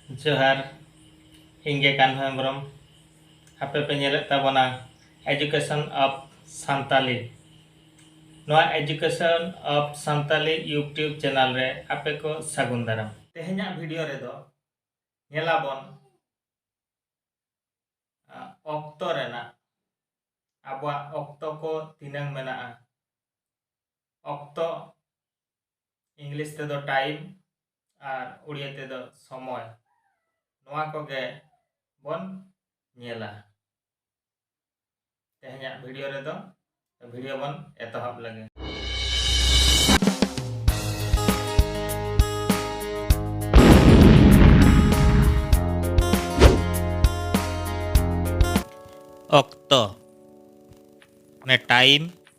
ᱡᱚᱦᱟᱨ ᱤᱧ ᱜᱮ ᱠᱟᱱᱦᱩ ᱦᱮᱢᱵᱨᱚᱢ ᱟᱯᱮ ᱯᱮ ᱧᱮᱞᱮᱫ ᱛᱟᱵᱚᱱᱟ ᱮᱡᱩᱠᱮᱥᱚᱱ ᱚᱯᱷ ᱥᱟᱱᱛᱟᱞᱤ ᱱᱚᱣᱟ education of Santali YouTube channel ᱨᱮ ᱟᱯᱮ ᱠᱚ ᱥᱟᱹᱜᱩᱱ ᱫᱟᱨᱟᱢ ᱛᱮᱦᱮᱧᱟᱜ ᱵᱷᱤᱰᱤᱭᱳ ᱨᱮᱫᱚ ᱧᱮᱞᱟᱵᱚᱱ ᱚᱠᱛᱚ ᱨᱮᱱᱟᱜ ᱟᱵᱚᱣᱟᱜ ᱚᱠᱛᱚ ᱠᱚ ᱛᱤᱱᱟᱹᱝ ᱢᱮᱱᱟᱜᱼᱟ ᱚᱠᱛᱚ ᱤᱝᱞᱤᱥ ᱛᱮᱫᱚ ᱴᱟᱭᱤᱢ ᱟᱨ ᱩᱲᱤᱭᱟ ᱛᱮᱫᱚ ᱥᱚᱢᱚᱭ ᱱᱚᱣᱟ ᱠᱚᱜᱮ ᱵᱚᱱ ᱧᱮᱞᱟ ᱛᱮᱦᱮᱧᱟᱜ ᱵᱷᱤᱰᱤᱭᱳ ᱨᱮᱫᱚ ᱵᱷᱤᱰᱤᱭᱳ ᱵᱚᱱ ᱮᱛᱚᱦᱚᱵ ᱞᱮᱜᱮ ᱚᱠᱛᱚ ᱢᱟᱱᱮ ᱴᱟᱭᱤᱢ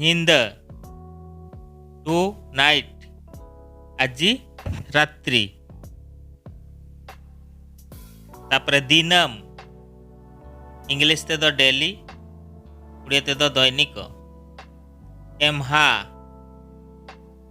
ᱧᱤᱫᱟᱹ ᱴᱩ ᱱᱟᱭᱤᱴ ᱟᱡᱤ ᱨᱟᱛᱨᱤ ᱛᱟᱯᱚᱨᱮ ᱫᱤᱱᱟᱹᱢ ᱤᱝᱞᱤᱥ ᱛᱮᱫᱚ ᱰᱮᱞᱤ ᱩᱲᱤᱭᱟ ᱛᱮᱫᱚ ᱫᱚᱭᱱᱤᱠᱚ ᱮᱢᱦᱟ